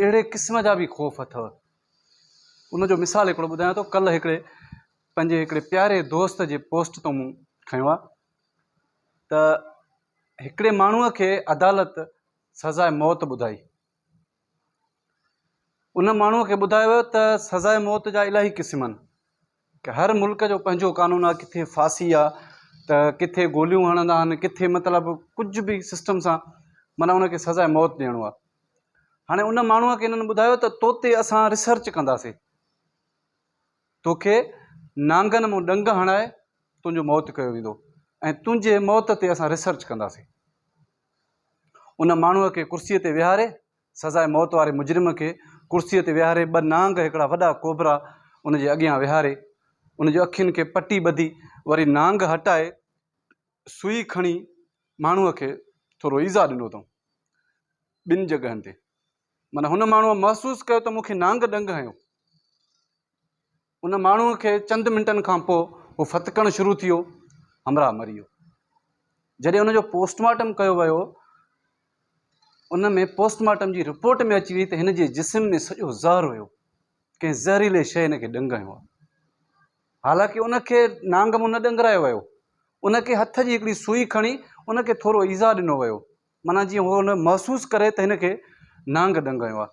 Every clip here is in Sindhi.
اهڙي قسم جا به خوف اٿو. ان جو مثال هڪڙو ٻڌايان ٿو ڪلهه هڪڙي پنهنجي هڪڙي پياري دوست جي پوسٽ تون مون کنيو آ ته هڪڙي ماڻهو کي عدالت سزاء موت ٻڌائي ان ماڻهو کي ٻڌايو ويو ته سزاء موت جا الاهي قسم آهن هر ملڪ جو پنهنجو قانون آهي ڪٿي ڦاسي آهي ته ڪٿي گوليون هڻندا آهن ڪٿي مطلب ڪجهه به سسٽم سان معنيٰ ان کي سزا موت ڏيڻو آهي هاڻي ان ماڻهوء کي هنن ٻڌايو ته تو تي اسان ريسرچ ڪنداسين توکي نانگن مون ڏنگ هڻائي تنهنجو موت ڪيو ويندو ۽ تنهنجي موت تي اسان ريسرچ ڪنداسين ان ماڻهوء کي ڪرسيء تي ويهاري سزاء موت واري مجرم کي ڪرسيء تي ويهاري ٻه نانگ هڪڙا وڏا ڪوبرا ان جي اڳيان ويهاري، ان جي اکين کي پٽي ٻڌي وري نانگ هٽائي سوئي کڻي ماڻهوء کي ٿورو ايذاء ڏنو اٿئون ٻن جڳهن تي معنيٰ هن ماڻهوء محسوس ڪيو ته مون کي نانگ ڏنگ هنيو. ان ماڻهوء کي چند منٽن کان پوء هو ڦٿڪڻ شروع ٿيو، همراهه مري ويو. جڏهن ان جو پوسٽ مارٽم ڪيو ويو، ان ۾ پوسٽ مارٽم جي رپورٽ ۾ اچي ويئي ته هن جي جسم ۾ سڄو زهر هيو، ڪنهن زهريلي شيء هن کي ڏنگ هنيو آهي. حالانڪه ان کي نانگ مون نه ڏنگرايو ويو، ان کي هٿ جي هڪڙي سوئي کڻي ان کي ٿورو ايذاء ڏنو ويو، معنيٰ جيئن هو ان محسوس ڪري ته هن کي نانگ ڏنگ هنيو آهي.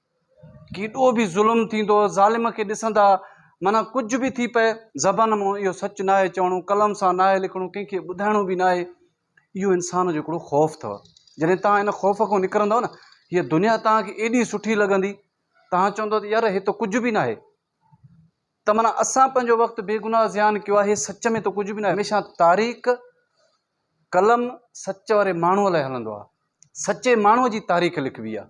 ڪيڏو به ظلم ٿيندو ظالم کي ڏسندا معنيٰ ڪجهه به ٿي پئي زبان مون اهو سچ ناهي چوڻو قلم سان ناهي لکڻو ڪنهن کي ٻڌائڻو به ناهي اهو انسان جو هڪڙو خوف اٿو جڏهن تان ان خوف کان نڪرندو نه هي دنيا تان کي ايڏي سٺي لڳندي تان چوندو ته يار هي ته ڪجهه به ناهي ته معنيٰ اسان پنهنجو وقت بيگناهه زيان ڪيو آهي سچ ۾ ته ڪجهه به ناهي هميشه تاريخ قلم سچ واري ماڻهو لاء هلندو آهي سچي ماڻهو جي تاريخ لکبي آهي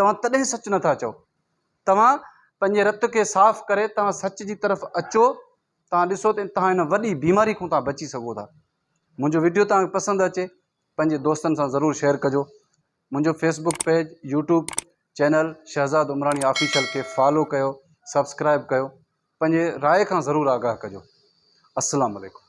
توهان تڏهن سچ نه ٿا چئو. توهان پنهنجي رت کي صاف ڪري توهان سچ جي طرف اچو توهان ڏسو ته توهان هن وڏي بيماري کان توهان بچي سگهو ٿا. منهنجو وڊيو توهان کي پسند اچي پنهنجي دوستن سان ضرور شيئر ڪجو. منهنجو Facebook page YouTube channel Shahzad Umrani official کي فالو ڪيو سبسڪرائب ڪيو پنهنجي راء کان ضرور آگاهه ڪجو. السلام عليڪم.